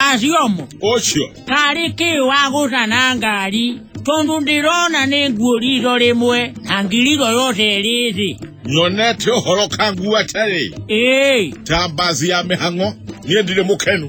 Asiomo, ũcio karĩ kĩ wa gũcana ngari, tondũ ndĩrona nĩ nguo riitho rĩmwe, na ngirigo yothe ĩrĩ thĩ. nyonete ũhoro kangu atarĩ Ĩĩ, ta mbazi ya mĩhang'o niĩ ndirĩ mũkenu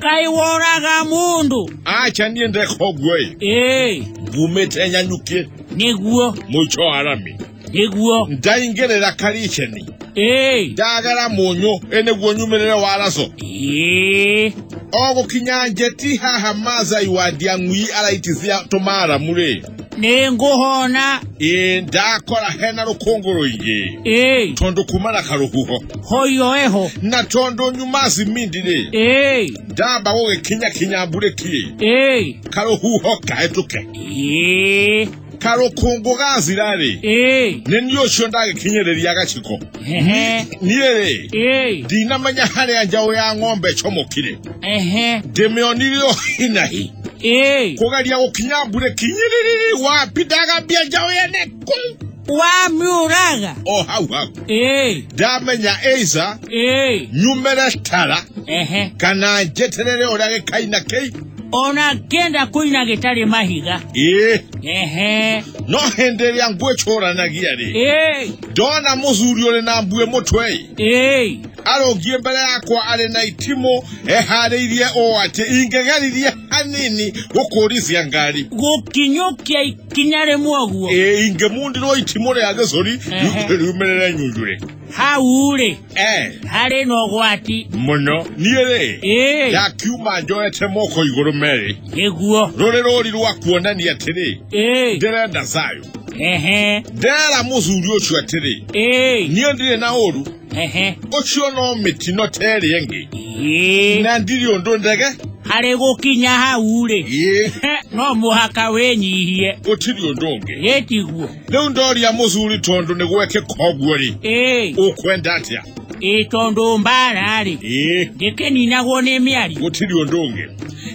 kaĩ woraga mũndũ? acha niĩ ndeka ũguo-ĩ Ĩĩ, ngumĩte nyanyukie nĩguo. mũico wa rami nĩguo ndaingĩrĩra kariceni ĩĩ ndagera mũnyũ ĩ nĩguo nyumĩrĩre waraco ĩĩ o gũkinya njeti haha mazai wa ndiang'ui araitithia tũmaramurĩ nĩ ngũhona ĩ ndakora hena rũkũngũ rũingĩ ĩĩ tondũ kuma na karũhuho hoyo eho na tondũ nyuma cimindi-rĩ ĩĩ ndamba gũgĩkinya kinya mburĩki-ĩ ĩĩ karũhuho kahĩtũke ĩĩ karokongogaazi rarĩ ee nĩ niĩ ũcio ndagĩkinyĩrĩria gaciko ehe niĩ rĩ ee ndinamenya harĩa njaũ ya ng'ombe ĩcomokire ehe ndĩmĩonire o hinahi ee kũgeria gũkinya mbure kinyĩrĩrĩrĩ wapi ndagambia njaũ yene kũu wamiuraga o hau hau ee ndamenya eiza ee nyumĩre tara ehe kana njeterere ũrĩa gĩkaina kĩi ona ngenda kuina gitari mahiga ii ehe no hindi iria ngwicuranagia ri ei ndona muthuri uri na mbue mutwe ei arungie mbere yakwa ari na itimu ehariirie uu ati ingegeririe hanini gukurithia ngari gukinyukia ikinya rimwe guo Ĩ, ingemundirwo itimu ria gicuri Ehe. riumirire nyunjure hau ri Eh, harĩ na ũgwati mũno niĩ rĩ ĩĩ yakiuma njoete moko igũrũ merĩ nĩguo rũrĩ rũri rwa kuonania atĩrĩ ĩĩ ndĩrenda sayũ ehe ndera mũthuri ũcio atĩrĩ ĩĩ niĩ ndirĩ na ũru ehe ũcio no mĩtino ta ĩrĩa ĩngĩ ĩĩ na ndirĩ ũndũ ndege harĩ gũkinya hau rĩ ĩĩ no mũhaka wĩnyihie gũtirĩ ũndũ ũngĩ ĩtiguo rĩu ndoria mũthuri tondũ nĩ gwekĩka ũguo-rĩ ĩĩ ũkwenda atĩa ĩĩ tondũ mbara-rĩ ĩĩ ndĩkĩninagwo nĩ mĩari gũtirĩ ũndũ ũngĩ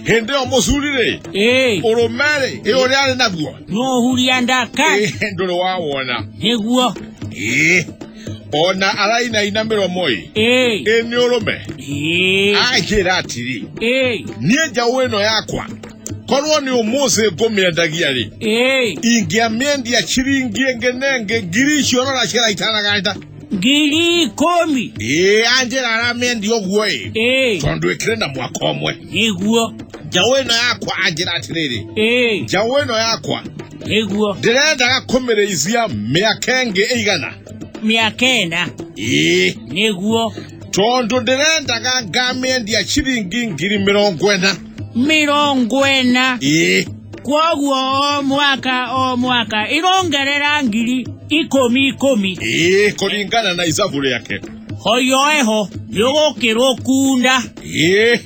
hĩndĩ ĩyo mũthuri-rĩ ĩĩ ũrũme-rĩ ĩ ũrĩa arĩ naguo nũhuria ndaka Ĩ, ndũrĩ wawona nĩguo ĩĩ ona arainaina mĩromo-ĩ ĩĩ ĩ nĩ ũrũme ĩĩ akĩra atĩrĩ ĩĩ niĩ njaũ ĩno yakwa korwo nĩ ũmũthĩ ngũmĩendagia rĩ Ĩĩ, ingĩamĩendia ciringi ĩngĩ na ĩngĩ ngiri icio rora ciara itanaganda ngiri ikũmi. ĩĩ anjĩra aramĩendia ũguo ĩ Ĩĩ, tondũ ĩkĩrĩ na mwaka ũmwe nĩguo. njaũ ĩno yakwa anjĩra atĩrĩrĩ Ĩĩ, njaũ ĩno yakwa nĩguo. ndĩrendaga kũmĩrĩithia mĩaka ĩngĩ ĩigana Mĩaka ĩna, ĩĩ nĩguo. tondũ ndĩrendaga ngamĩendia ciringi ngiri mĩrongo ĩna mĩrongo ĩna ĩĩ kwoguo o mwaka o mwaka ĩrongerera ngiri ikũmi ikũmi ĩĩ kũringana na icabu rĩake hoyoeho nĩũgũkĩrwo kunda ĩĩ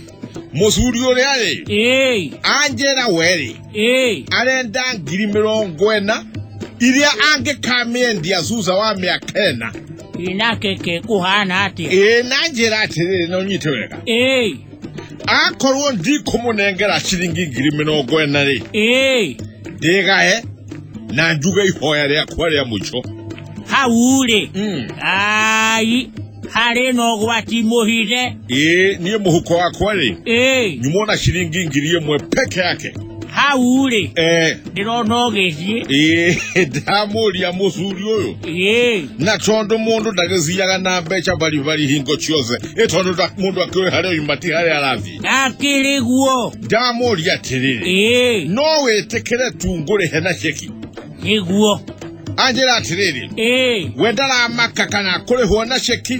mũcuri ũrĩa rĩ ĩĩ anjĩra we rĩ ĩĩ arenda ngiri mĩrongo ĩna iria angĩkamĩendia thutha wa mĩaka ĩna ĩnakeke kũhana atĩa ĩĩ na njĩra atĩrĩrĩ na ũnyite wega ĩĩ akorwo ndikũmũnengera ciringi ngiri mĩrongo ĩna rĩ ĩĩ ndĩgae na njuge ihoya rĩakwa rĩa mũico hau rĩ Mm. ai harĩ na ũgwati mũhithe ĩĩ niĩ mũhuko wakwa rĩ ĩĩ nyumwo na ciringi ngiri ĩmwe peke yake hau rĩ eh ndĩrona ũgĩthiĩ eh ndamuria mucuri uyu ĩĩ na tondu mundu ndagiciaga na mbeca baribari hingo ciothe ĩ tondu nda- mundu akiũĩ harĩa oima ti harĩa arathiĩ akĩrĩ guo ndamuria atĩrĩrĩ ĩĩ no wĩtĩkĩre tu ngũrĩhe na ceki nĩguo anjĩra atĩrĩrĩ ĩĩ we ndaramaka kana kũrĩhwo na ceki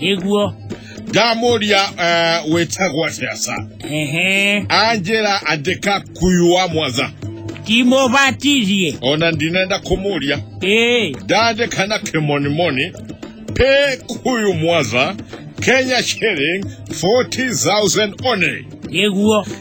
nĩguo ndamũria eh, wĩtagwo atĩa sa ehe anjĩra andĩka kuyu wa mwaza timũbatithie ona ndinenda kũmũria ĩĩ ndandĩka na kĩmonimoni pay kuyu mwaza kenya shilling 40000 only nĩguo